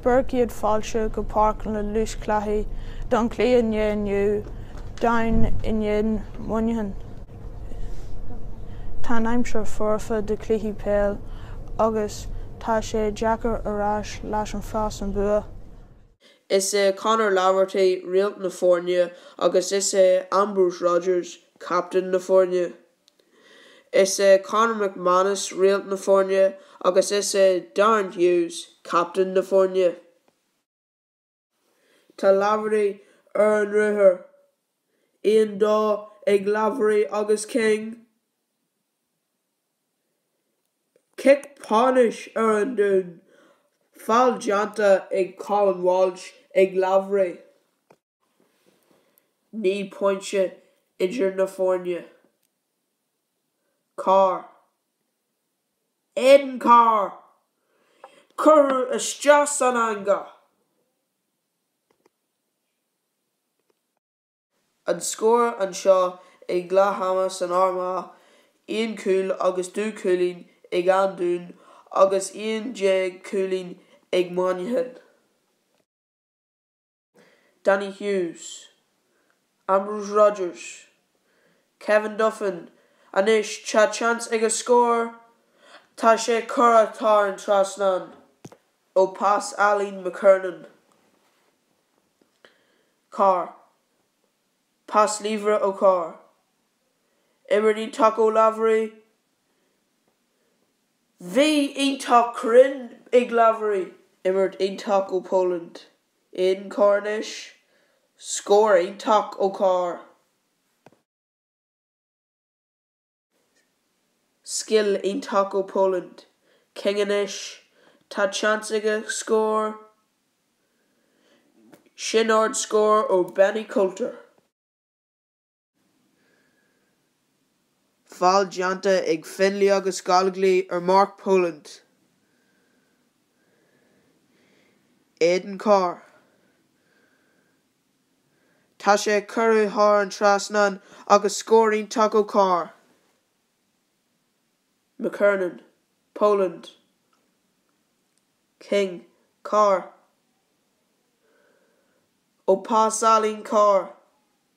Bhur gcéad fáilte go Páirc na Lúthchleasaithe don chluiche inniu, Down in éadan Mhuineacháin. Tá an aimsir foirfe do chluiche peil agus tá sé deacair a rá cé leis a bheas an bua. Is é Conor Laverty réalt na foirne agus is é Ambrose Rogers captaen na foirne. Is é Conor McManus réalt na foirne agus is é Darren Hughes captaen na foirne. Tá Laverty ar an ruathar, 1-2 ag Laverty agus King. Cic pionóis ar an Dún, feall déanta ag Colin Walsh ag Laverty. Naoi bpointe idir na foirne. Carr. Aidan Carr! Curtha isteach san eangach! An scór anseo ag leath ama san Armagh, aon chúl agus dó cúilín ag An Dún agus aon déag cúilín ag Muineachán. Danny Hughes, Ambrose Rogers, Kevin Duffin anois tá seans aige scór tá sé curtha thar an trasnán ó pas álainn McKernan. Carr, Pas láimhe ó Carr. Imirt iontach ó Laverty Bhí iontach cruinn ag Laverty! Imirt iontach ó Poland. Aidan Carr anois, scór iontach ó Carr. Scil iontach ó Poland, King anois, tá seans aige scór. Sin ard scór ó Benny Coulter. Feall déanta ag Finlay agus Gollogly ar Mark Poland, Aidan Carr. Tá sé curtha thar an trasnán agus scór iontach ó Carr. McKernan, Poland, King, Carr. Ó pas álainn, Carr.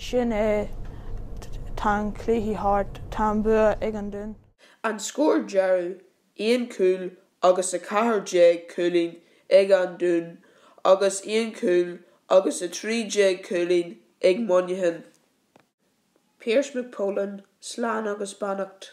Sin é. Tá an cluiche thart. Tá an bua ag an Dún. An scór deireadh, aon chúl agus 14 cúilín ag an Dún agus aon chúl agus 13 cúilín ag Muineachán. Pearse McPolin, Slán agus beannacht.